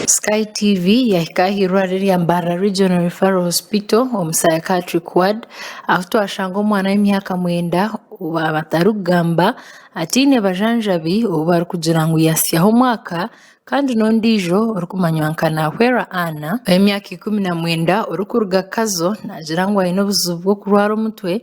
Sky TV yahika aha eirwariro erya Mbarara Regional Referral Hospital omu Psychiatric Ward ahu twashanga omwana w'emyaka mwenda ou abatarikugamba ataine bajanjabi ou barikugira ngu yatsyaho omwaka kandi n'ondiijo orikumanywa nka Nahwera Anna ow'emyaka ikumi na mwenda orikuruga Kazo naagira ngu aine obuzibu bw'okurwara omutwe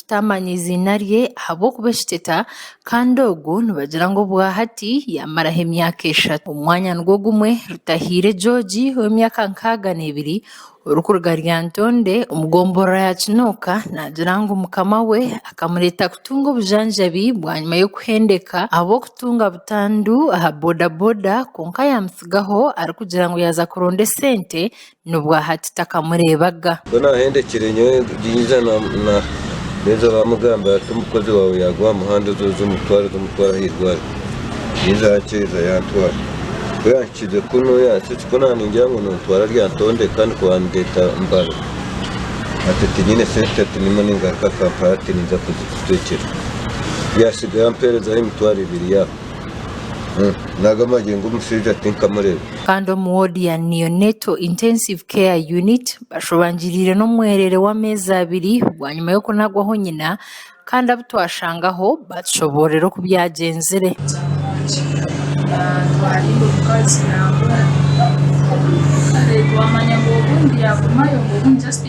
Tutaamanya eiziina rye ahabw'okuba ekiteta kandi ogu nibagira ngu obwa hati yaamaraho emyaka eshatu. Omwanya nigwo gumwe Rutahiire George ow'emyaka nkaaga n'ebiri orikuruga Lyantonde omu gomboroa ya Kinooka naagira ngu mukama we akamureeta kutunga obujanjabi bwanyima y'okuhendeka ahabw'okutunga butandu aha bodaboda kwonka yaamutsigaho arikugira ngu yaaza kuronda esente nobwahati takamureebaga. Mbwenu ahendekire nyowe naija namugambira ati omukozi waawe yaagwa aha muhanda oze oze omutware oze omutware aha irwariro. Yaiza yaakyeeza yantwara. Ku yanhikiize kunu yansa ekikono aha ningira ngu nontwara aryantondeka nikwo baandeeta Mbale. Ati tinyine sente ati niimuha ningaruka Kampala ati ninza kuzikutwekyera. Yaatsigayo ampeerezaho emitwaro ebiri yaafa. Kandi omu woodi ya Neonatal Intensive Care Unit, bashobangiriire n'omwereere w'ameezi abiri bwanyima y'okunagwaho nyina kandi abu twashangaho baatushoboorora oku byagyenzire.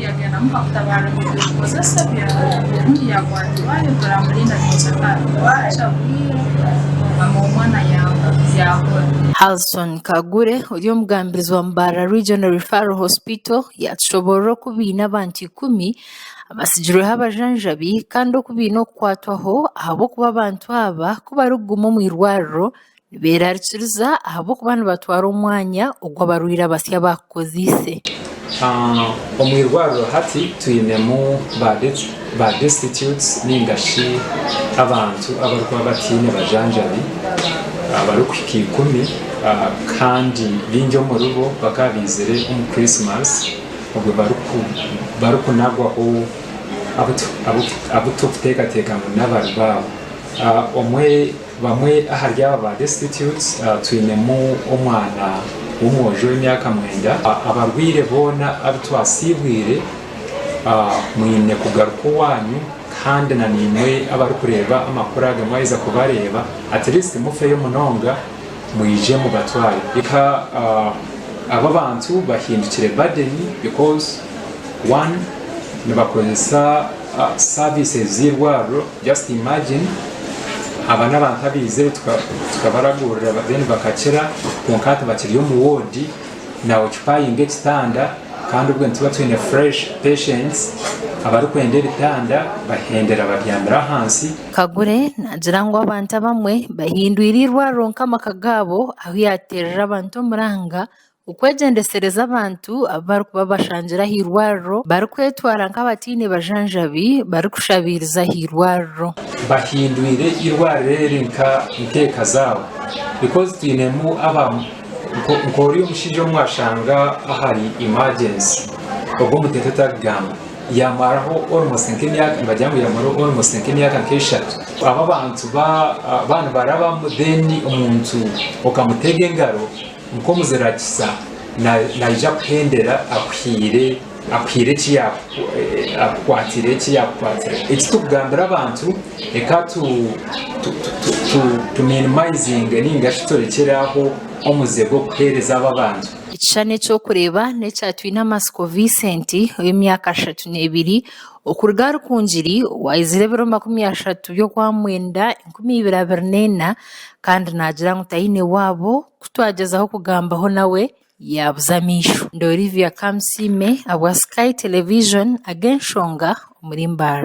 Yagendamu bamutabare ngu omukozi asebya obundi yakwatibwa ayogera mbu Linda nincakara bwakya bwire mama w'omwana yabura. Halson Kagure ori omugambirizi wa Mubarara Regional Referral Hospital yatushoborora oku baine abantu ikumi abatsigirweho abajanjabi kandi oku baine okukwatwaho ahabw'okuba abantu aba ku barikuguma omu irwariro Beerarikiriza ahabw'okuba nibatwara omwanya ogu abarwaire abasya baakukoziise. Omu irwariro hati twinemu ba Destitutes nainga shi abantu abarikuba bataine bajanjabi abarikuhika ikumi kandi baingi omuri bo bakaba baizire omu Christmas obwe barikunagwaho abu turikuteekateeka ngu n'abari baabo. Bamwe ahari abo ba Destitutes twinemu omwana w'omwojo w'emyaka mwenda. Abarwaire boona abu twasiibwire, mwine kugaruka owaanyu kandi na naimwe abarikureeba amakuru aga mwaheza kubareeba, at least mufeyo munonga mwije mubatware eka. Abo abantu bahindukire burden because one nibakozesa services z'eirwariro. Just imagine aba nabantu abaizire tukabaragurira then bakakira kwonka hati bakiri omu ward na occupying ekitanda kandi obwe nitubakiine fresh patients abarikwenda ebitanda bahendera babyamire ahansi. Kagure nagira ngu abantu abamwe bahindwire eirwariro nkamaka gaabo ahu yaterera abantu omuranga Okwegyendesereza abantu abu barikuba bashangire aha irwariro barikwetwara nk'abataine bajanjabi barikushabiiriza aha irwariro. Bahindwire irwariro eri nka eka zaabo because twinemu aba nka ori omushaija omu washanga ahari emergency ogu omuteto tarikugamba yamaraho almost nka emyaka nibagira ngu yamaraho almost nka emyaka nka eshatu abo abantu ba ba nibarabamu then omuntu okamutega engaro. Nk'omuzira kisa naija kuhendera akuhiire akukwatiire eki yaakukwatira. Eki turikugambira abantu reka tuminimizinge nainga shi turekyere aho omuze gw'okuheereza abo abantu. Ekishushani eky'okureeba n'ekya Twinamatsiko Vincent ow'emyaka ashatu n'ebiri okuruga Rukungiri owaizire ebiro makumi ashatu by'okwa mwenda enkumi ibiri abiri n'ena kandi naagira ngu taine waabo ku twagyezaho kugambaho nawe yaabuza amaisho. Ndi Olivia Kamusiime ahabwa Sky Television Ag'enshonga omuri Mbaara.